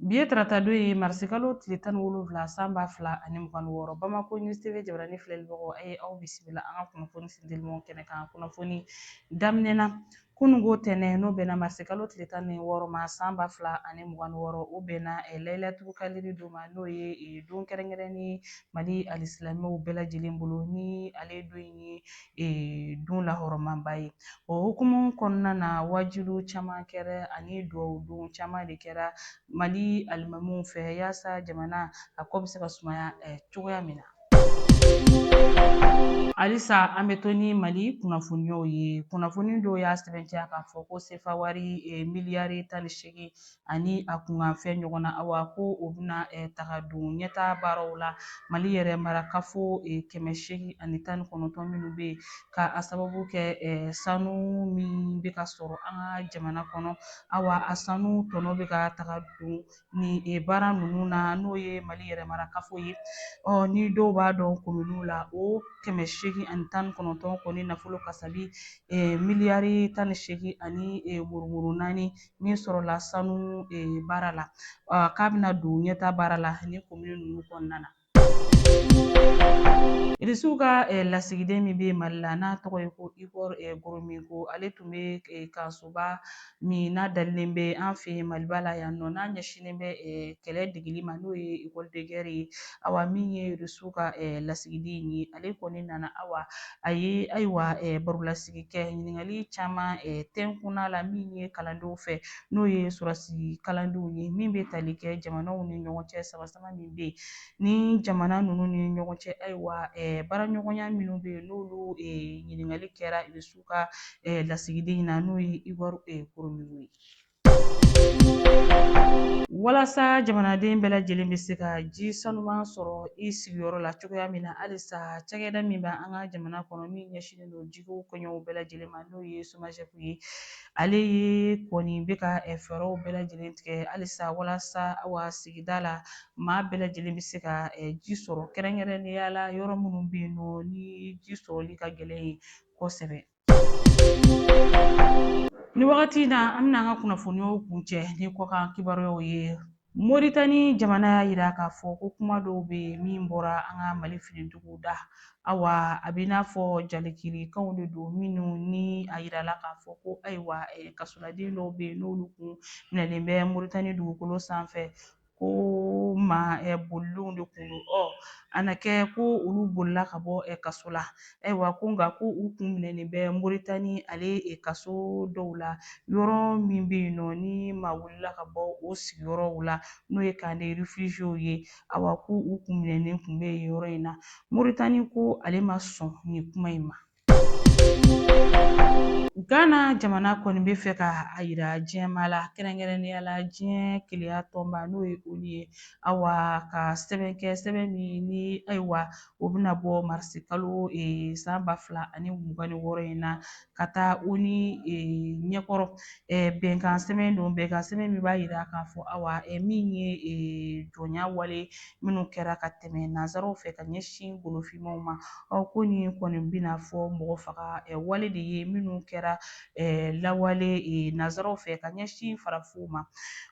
Bi ye tarata don ye marisikalo tile tan wolonwula san ba fila ani mugan wɔɔrɔ bamakɔ News TV jabarani filɛlibagaw a ye aw bisimila an ka kunnafoni sendilimaw kɛnɛ kan kunnafoni daminɛ na kununko tɛnɛn n'o bɛnna marisikalo tile tan ni wɔɔrɔ ma san ba fila ani mugan wɔɔrɔ o bɛnna eh, layilatuli kadiri don ma n'o ye eh, don kɛrɛnkɛrɛnnen mali alisilamɛw bɛɛ lajɛlen bolo ni ale don ye don lahɔrɔmaba ye o hukumu kɔnɔna na wajuli caman kɛra ani duwawu don caman de kɛra mali alimamiw fɛ yaasa jamana a ko bɛ se ka sumaya cogoya min na halisa an bɛ to ni mali kunnafoniyaw ye kunnafoni dɔw y'a sɛbɛntiya k'a fɔ ko sefawari miliyari tan ni seegin ani a kunkanfɛn ɲɔgɔn na awa ko o bɛna taga don ɲɛtaa baaraw la Mali yɛrɛ marakafo kɛmɛ seegin ani tan ni kɔnɔntɔn minnu bɛ yen ka a sababu kɛ sanu min bɛ ka sɔrɔ an ka jamana kɔnɔ awa a sanu tɔnɔ bɛ ka taga don nin baara ninnu na n'o ye Mali yɛrɛ marakafo ye ɔ ni dɔw b'a dɔn kominiw la o kɛmɛ seegin ani tan ni kɔnɔntɔn kɔni nafolo kasabi miliyari tan ni seegin ani murumuru naani min sɔrɔla sanu baara la k'a bɛna don ɲɛtaa baara la ni komini ninnu kɔnɔna na irisiw ka lasigiden min bɛ mali la n'a tɔgɔ ye ko Igor Gromyko ale tun bɛ kalansoba min n'a dalilen bɛ an fɛ maliba la yan nɔ n'a ɲɛsinnen bɛ kɛlɛ degeli ma n'o ye école de guerre ye awa min ye irisiw ka lasigiden ye ale kɔni nana awa a ye ayiwa barolasigi kɛ ɲininkali caman tɛnkunna la min ye kalandenw fɛ n'o ye sɔrɔdasi kalandenw ye min bɛ tali kɛ jamanaw ni ɲɔgɔn cɛ samasama min bɛ yen ni jamana ninnu ni ɲɔgɔn cɛ ayiwa baaraɲɔgɔnya minnu bɛ yen n'olu ɲininkali kɛra irisiw ka lasigiden in na n'o ye Igor Gromyko ye Walasa jamanaden bɛɛ lajɛlen bɛ se ka ji sanuman sɔrɔ i sigiyɔrɔ la cogoya min na halisa cakɛda min bɛ an ka jamana kɔnɔ min ɲɛsinnen don jiko koɲɛw bɛɛ lajɛlen ma n'o ye SOMAGEP ye ale ye kɔni bɛ ka fɛɛrɛw bɛɛ lajɛlen tigɛ halisa walasa awa sigida la maa bɛɛ lajɛlen bɛ se ka ji sɔrɔ kɛrɛnkɛrɛnnenya la yɔrɔ minnu bɛ yen nɔ ni ji sɔrɔli ka gɛlɛn yen kosɛbɛ Ni wagati in na an bɛna an ka kunnafoniyaw kuncɛ ni kɔkan kibaruyaw ye moritani jamana y'a jira k'a fɔ ko kuma dɔw bɛ yen min bɔra an ka mali finitigiw da awa a bɛ i n'a fɔ jalakilikanw de don minnu ni a yirala k'a fɔ ko ayiwa kasoladen dɔw bɛ yen n'olu kun minɛlen bɛ moritani dugukolo sanfɛ ko maa ɛ bolilenw de kun don ɔ a na kɛ ko olu bolila ka bɔ ɛ kaso la ayiwa ko nka ko u kun minɛnen bɛ moritani ale ɛ kaso dɔw la yɔrɔ min bɛ yen nɔ ni maa wulila ka bɔ o sigiyɔrɔw la n'o ye camp de réfugiés ye awa ko u kun minɛnen kun bɛ yen yɔrɔ in na moritani ko ale ma sɔn nin kuma in ma Ghana jamana kɔni bɛ fɛ ka a yira diɲɛmaa la kɛrɛnkɛrɛnnenya la diɲɛ keleya tɔnba n'o ye ONU ye awa ka sɛbɛn kɛ sɛbɛn min ni ayiwa o bɛna bɔ marisi kalo ee, san ba fila ani mugan ni wɔɔrɔ in na ka taa ONU ee, ɲɛkɔrɔ ee, bɛnkan sɛbɛn don bɛnkan sɛbɛn min b'a yira k'a fɔ awa ee, min ye ee, jɔnya wale minnu kɛra ka tɛmɛ nanzaraw fɛ ka ɲɛsin golofinmaw ma awa ko nin kɔni b'i n'a fɔ mɔgɔ faga wale de ye minnu kɛra lawale nanzaraw fɛ ka ɲɛsin farafinw ma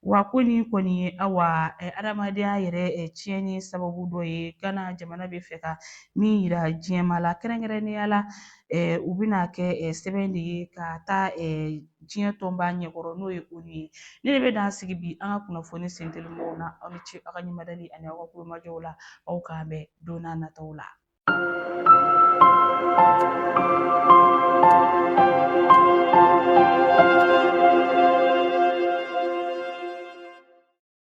wa ko nin kɔni ye awa adamadenya yɛrɛ tiɲɛni sababu dɔ ye Ghana jamana bɛ fɛ ka min yira diɲɛmaa la kɛrɛnkɛrɛnnenya la u bɛna kɛ sɛbɛn de ye ka taa diɲɛ tɔnba ɲɛkɔrɔ n'o ye ONU ye nin de bɛ dan sigi bi an ka kunnafoni sentelimanw na aw ni ce aw ka ɲɛmadali ani aw ka kulomajɔw la aw k'an bɛn don n'a nataw la